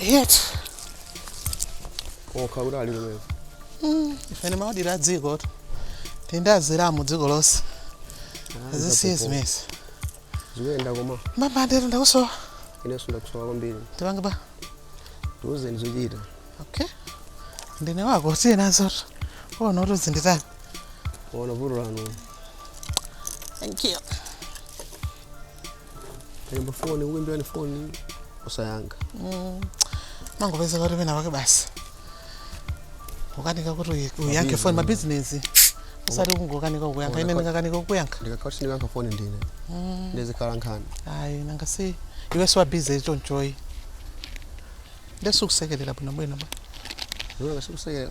Yeti. kokha kuti ali kumene Ifene timayendera dzikotu. Timayendera dziko lonse. Zisiye zimezi. zikuyenda koma Mama ndiye ndakusowa. inenso ndakusowa kwambiri Tipange pa. tiuzeni zochita Okay. Ndine wako tiye nazo. Uona kuti uzinditani. ona vuto lanu Thank you. Kuimba foni, kuimbirani foni, osayankha. mangopezeka kuti pena pake basi ukanika kuti uyi- uyankhe foni mabizinesi osati kungokanika kukuyankha ine ndingakanike kukuyankha Ndikakhala kuti ndikayankha foni ndine. Ndizikhala nkhani. ayi nanga si iwe si wa busy chonchoyi ndiye sikusekerera bwinobwino ba Ndiona ngati sikusekera.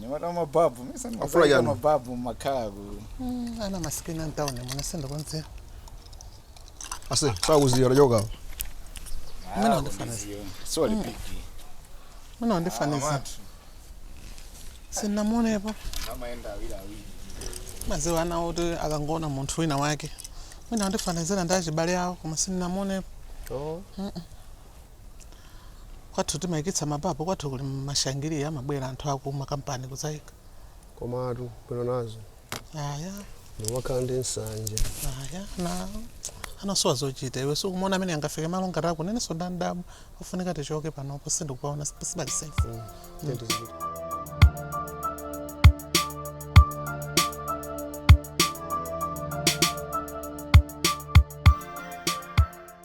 nyamata mababu mesa Afula mazaika chani? mababu makhala ku Mm, ana masikini antawuni mona sindikudziwa ase sakuziya lachoka Mwana wandifanisa. soli piki muna wandifanisa sinamuonepo amaenda awiri awiri madziwa ana oti akangoona munthu wina wake mwina wandifanizira ndi achibale awo koma sinamuonepo kwathu timayikitsa mababu kwathu kuli mashangiliya amabwera anthu aku makampani kudzayika komatu bwino nazo aya ndimakhala ndi nsanje ayi ana anasowa zochita iwe sukumuona amene angafike malo ngati ano inenso ndadabwa ofunika tichoke panopo sindikupaona sipali sefu tenti zipita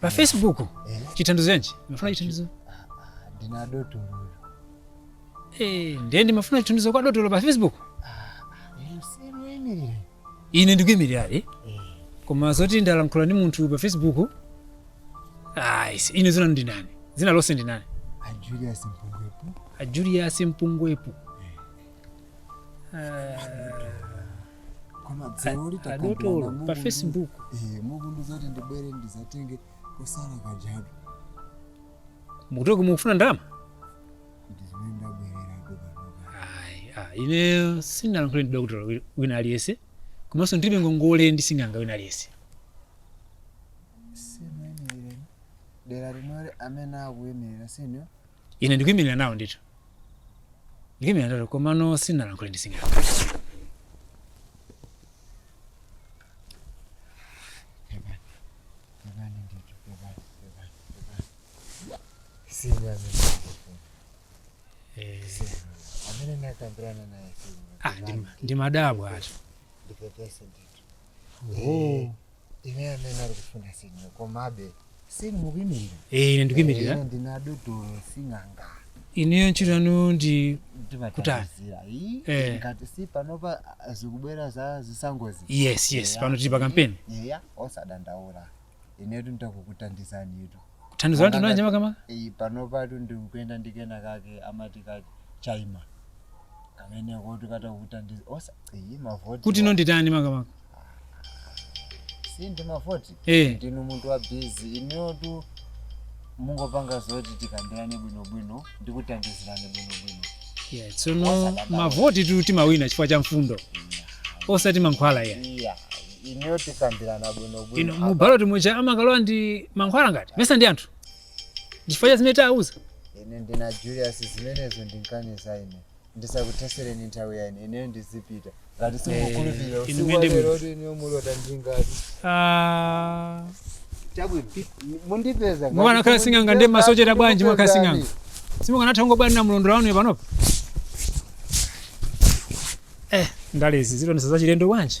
pa facebook chithandizo chanji mumafuna chithandizo ndine dotolo Eh, ndiye ndimafuna chithandizo kwa dotolo pa facebook simuimirira ine ndikuimirirabe koma zoti ndalankhula ndi munthu pa facebook ayi si- ine dzina ndi nani dzina lonse ndi nani a julius mpungwepo a julius mpungwepo koma dzulo lija adotolo pa facebook mukundiuza kuti ndibwere ndizatenge kusala kajabi mukuti kodi mukufuna ndalama ndizimene ndabwerera pano Ayi, ah, ine sinalankhule ndi dokotala wi- wina aliyense komanso ndilibe ngongole ndi sing'anga wina aliyense si a m'dera limwelo amene akuyimirira senior ine ndikuyimirira nawo ndithu ndikuyimirira nawo komano sinalankhule ndi sing'anga Eh, amene nakambirana naye ah, ndi- ndimadabwatu ndipepese ndithu Eh, ine amene ali kufuna si inuyo komabe sini mukuimirira Eh, ine ndikuimirira Ine ndine dotolo sing'anga ineyo ntchito yanu ndi kutani Eh. ngati si panopa zikubwera za zisankhozi yes yes pano tili pa kampeni eya osadandaula inetu nditakukuthandizanitu thandizo loti nanji makamaka iyi panopatu ndikuyenda ndi kena kake amati ka chaima kamene kotu katakukuthandiza mavoti kuti ine nditani makamaka si ndi mavoti Eh. ndinu munthu wa bizi ineyotu mungopanga zoti tikambirane bwinobwino ndikuthandizirane bwinobwino yeah, tsono mavoti tu timawina chifukwa cha mfundo osati mankhwala ya iya ineyo tikambirana bwinobwino ino apa. mubaloti muja amakalowa ndi mankhwala ngati mesa ndi anthu chifukwa cha zimene tawauza ine ndine julius zimenezo ndinkaniza ine ndisakuthereni nthawi ya ine ineyo ndizipita ngati simukhulupirira inu muyende bwino. usiku walerotu inuyo mulota ndingati Ah, chabwino mundipeza Mwangokhala sing'anga ndi masocheza bwanji mwangokhala sing'anga. simukanatha kungobwanira mulondola wanu panopa eh ndalezi zikundionetsa za chilendo bwanji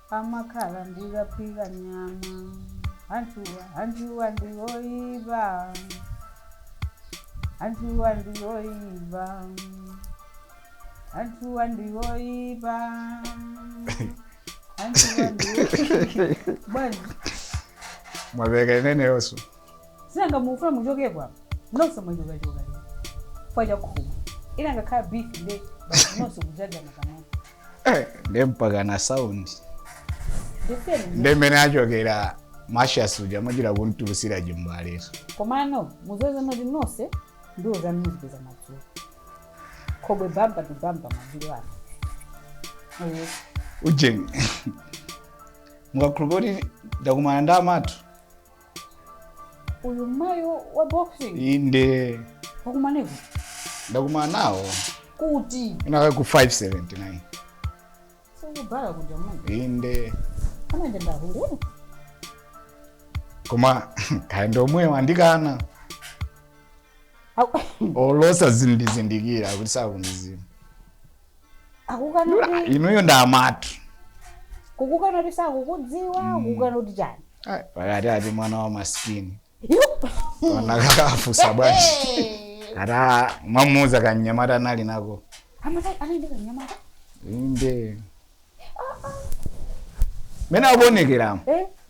amakhala ndikaphika nyama anthuwa anthuwa ndiwoipa anthuwa ndiwoipa anthuwa ndiwoipa anthuwa ndiwoipa bwana mwamveka ineneyoso sindikumufuna muchokepo apa nonse mwachokachoka kwachakhuma ina ngakhala beef nde basi nonse kudzadzana pamodzi Eh, nde mpaka na sound nde mmene achokera mashasuja majira kumtulutsira chimbaletu komano muzoze mati nonse ndiwo zamuzipeza madzulo khobwe bamba ndi bamba madzulo ano Eh, ujeni mukhulupira kuti ndakumana ndi amatu uyu mayo wa boxing inde mwakumana nawo ndakumana nawo kuti inaka ku 579 sikubhala kuja mungu inde amanje ndahulu koma kaya ndi omwewo wandikana olosa sakundizindikira kuti sakundidziwa akukana kuti inuyo ndi amatu kukukana kuti sakukudziwa kukukana kuti chani Ai, pakati ati mwana wa masikini anakafunsa bwanji ata mwamuuza kanyamata ndili nako amayenda ndi kanyamata inde mmene akuonekeramo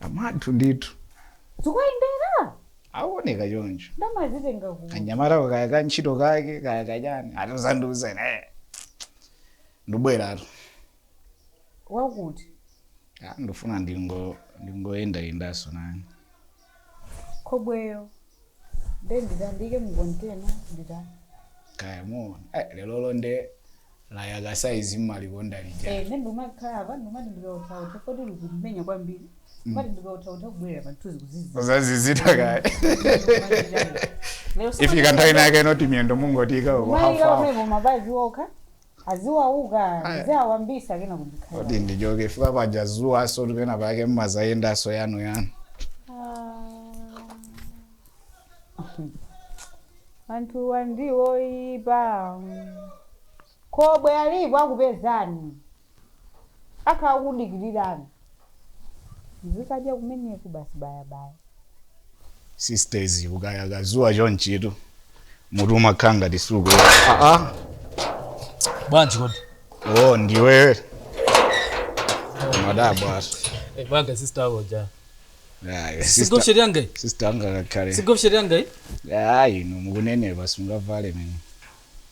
amwathu ndithu zikuwayendera aoneka choncho ndamazitenga ku kanyamata kako kaya ka ntchito kake kaya kachani atizandiuza ine eh. ndibwera tu wakuti Ah, ndifuna ndingo ndingoyendayendanso nani khobweyo nde ndatandika mu kontena nditani kaya muona eh, lero londe layaka saizi mumalikonda lija Eh, nde ndimangokhala apa ndimati ndikauthautha kodi likumenya kwambiri mati ndikauthautha kubwerera pamthunzi kuzizi ndazizidwa kaya lero ifika nthawi yake yoti miyendo mungoti ika uko mayika hafahafa pamene mapazi okha Aziwauka ndiziawambitsa kenako ndikhale Kodi wabwino. ndichoke chifukwa paja dzuwanso ndi pena pake mumadzayendanso yanu yanu. Ah. Anthuwa ndiwoipa. Khobwe alipo akupezani. Akhala akukudikirirani. mzikadya kumeneku basi bayabaya sisters kukayaka dzuwa chonchitu mutu umakhala ngati sukukoka aa bwanji kodi o ndiwe mwadabwanso bwanga sister ako uja sigopsheri yangayi sister angakakhale sigopsheri yangayi ayi no mukunenapa singavale mene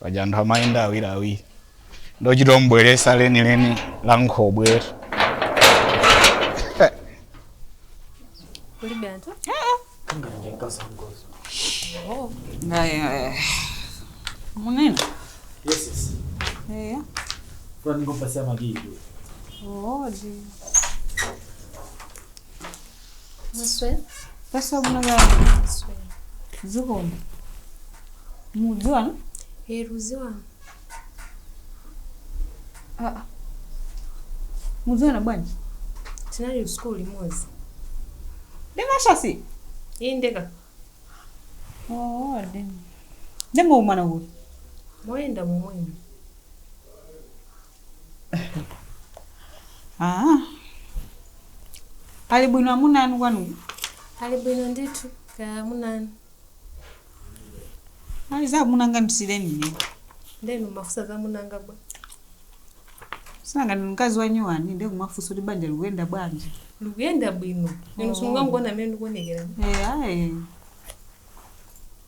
paja anthu amayenda awiriawiri ndikuchita ombwereza lenileni la nkhobwetu kulibe anthu munene eya Kwa niko pasi ya magigi. odi Pesa bwino kaya. Zikomo. Mudziwana? Ee tidziwana. Ah. ah. Mudziwana bwanji? Tinali school limodzi. Ndi mashasi? Inde ka. Oh, ndi. Nde mwakumana kuti? Moyenda momwemu. Ah. Ali bwino amuna anu kwanu? Ali bwino ndithu kaya amuna anu. Ali za amuna anga ndisiyireni ine. Nde inu mumafunsa za amuna anga bwa. Si nanga ndi mkazi wa nyuwani ndiye kumafunsa kuti banja likuyenda bwanji. Likuyenda bwino. Inu simungangoona mmene ndikuonekera. Eh, ayi.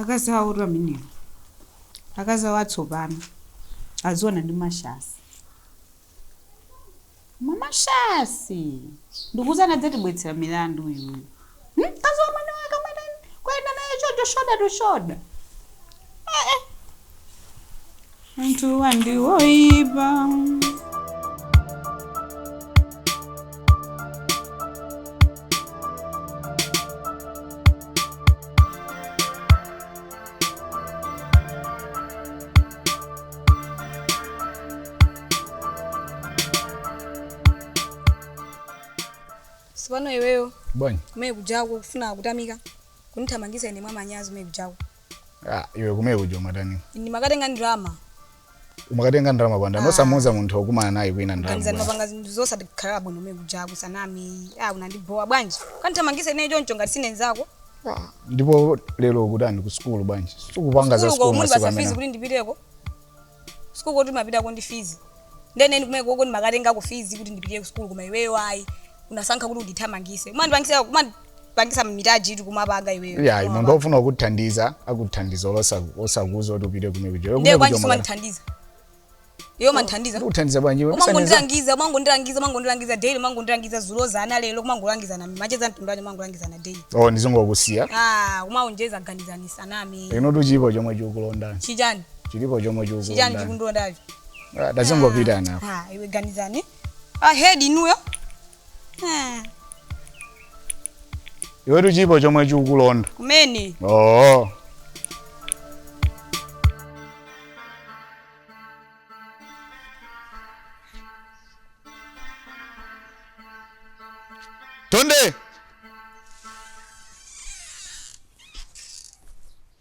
Akazi awotu amenewo. Akazi awo atsopano. Adziwana ndi mashasi. Koma mashasi! Ndikuwuzani adzatibwetsera milandu uyuyu. Hmm? Mkazi wa mwini wake kumayenda naye choncho shoulder to shoulder. Eh eh. Mtu andiwoipa si pano iweyo bwanji kumene kujaku kufuna kutamika kunithamangisa ine mwa manyazi kumene kujaku Ah, iwe kumene kuja umatani ndimakatenga ndalama umakatenga ndalama kwa ndani osamuuza munthu wokumana naye kwina ndalama kanizani bwana. umapanga zinthu zosatikhala bwino kumene kuja kusanama unandibowa bwanji kundithamangisa ineyo choncho ngati sine nzako ndipo lero ukutani ku sukulu bwanji sukupanga za sukulu sukulu muli masiku pa za fizi amene kuti ndipiteko School koti umapitako ndi fees? Ndiye ine kumeneko ndimakatengako fees kuti ndipitire ku school koma iweyo ayi. Unasankha kuti undithamangise. Umandipangisa umandipangisa mitaji tu kumapanga iweyo. Iyayi munthu Kumapanga. ofuna kukuthandiza akuthandiza olosa osakuuza kuti upite kumene kuja. Iwe Ndiye kumene kwanji kuja umakana. sumandithandiza. Iwe umandithandiza. Ndikuthandiza bwanji iwe? Usandiza- umangondilangiza umangondilangiza umangondilangiza daily umangondilangiza zulo zana lero kumangolangizana macheza mtundu wani umangolangizana daily Oh, ndizongokusiya. ah umaonjeza ganizani zanu Iwetu chilipo chomwe chikukulonda. chichani chilipo chomwe chikuku chichani chikundilondacho Ah, tazingopitani Ah, iwe ganizani ahead inuyo Ah, iwetu chilipo chomwe chikukulonda kumene oo tonde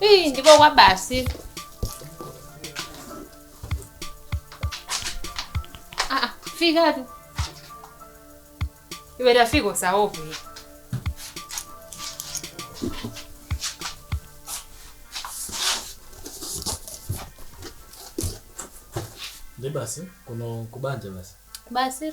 Ih, ndipo kwa basi. Ah, ah, fika tu. Iwe tafika usaovu. Ndi basi kuno kubanja basi. Basi.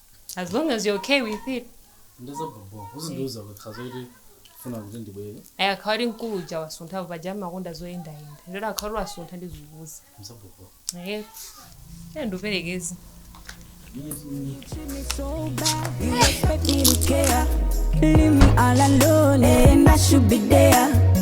as long as you're okay with it ndi za bhobho uzandiuza ukakhala kuti ukufuna kuti ndibwere akakhala kuti mkulu uja wasunthapo paja amakonda zoyendayenda ndiye akakhala kuti wasuntha ndizakuuza ndi za bhobho ehe ine ndikuperekeze Leave me all alone and I should be there.